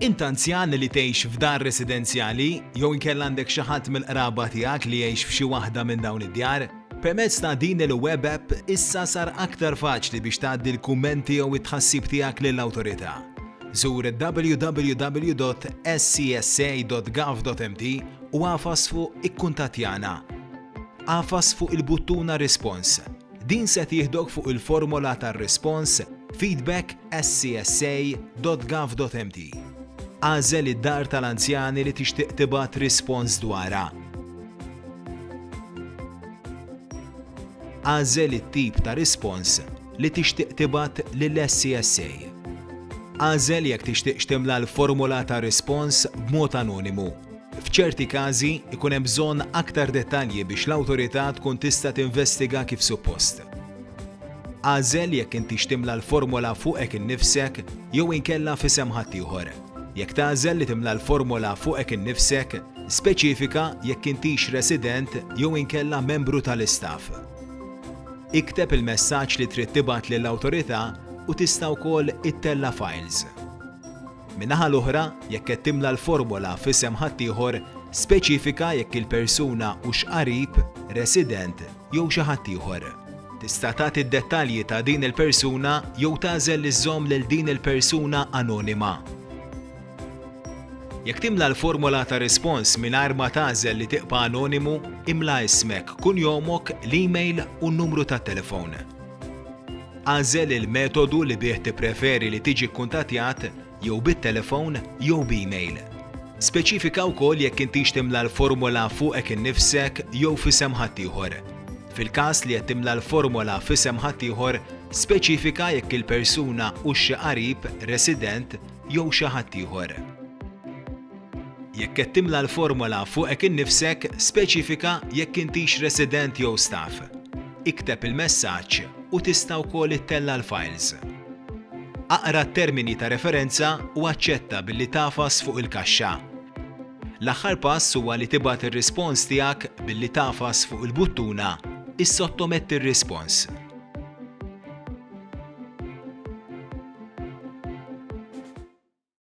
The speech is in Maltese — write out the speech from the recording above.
Int anzjan li tgħix f'dar residenzjali jew inkella għandek xi ħadd mill-qraba tiegħek li jgħix f'xi waħda minn dawn id-djar? Permezz ta' din il-web app issa sar aktar faċli biex tgħaddi l-kummenti jew it-tħassib tiegħek lill-Awtorità. Żur www.scsa.gov.mt u agħfas fuq Ikkuntattjana. Agħfas fuq il-buttuna Rispons. Din se tieħdok fuq il-formola tar-rispons Feedback SCSA.gov.mt. Agħżel id-dar tal-anzjani li tixtieq tibgħat rispons dwarha. Agħżel it-tip ta' rispons li tixtieq tibgħat lill-SCSA. Agħżel jekk tixtieqx timla l-formola tar-rispons b'mod anonimu. F'ċerti każi, ikun hemm bżonn aktar dettalji biex l-awtorità tkun tista' tinvestiga kif suppost. Agħżel jekk intix timla l-formola fuqek innifsek jew inkella f'isem ħaddieħor. Jekk tagħżel li timla l-formola fuqek innifsek, speċifika jekk intix resident jew inkella membru tal-istaff. Ikteb il-messaġġ li trid tibgħat lill-awtorità u tista' wkoll ittella' files. Min-naħa l-oħra, jekk qed timla l-formola f'isem ħaddieħor, speċifika jekk il-persuna hux qarib, resident jew xi ħadd ieħor. Tista' tagħti d-dettalji ta' din il-persuna jew tagħżel li żżomm lil din il-persuna anonima. Jekk timla l-formola ta' rispons mingħajr ma tagħżel li tibqa' anonimu, imla ismek, kunjomok, l-email u n-numru tat-telefon. Agħżel il-metodu li bih tippreferi li tiġi kkuntattjat jew bit-telefon jew b'email. Speċifika wkoll jekk intix timla l-formola fuqek innifsek jew f'isem ħaddieħor. Fil-każ li qed timla l-formola f'isem ħaddieħor, speċifika jekk il-persuna hux xi qarib, resident jew xi ħaddieħor. Jekk qed timla l-formola fuqek innifsek, speċifika jekk intix resident jew staff. Ikteb il-messaġġ u tista' wkoll ittella' l-fajls. Aqra t-termini ta' referenza u aċċetta billi tagħfas fuq il-kaxxa. L-aħħar pass huwa li tibgħat ir-rispons tiegħek billi tagħfas fuq il-buttuna Issottometti r-rispons.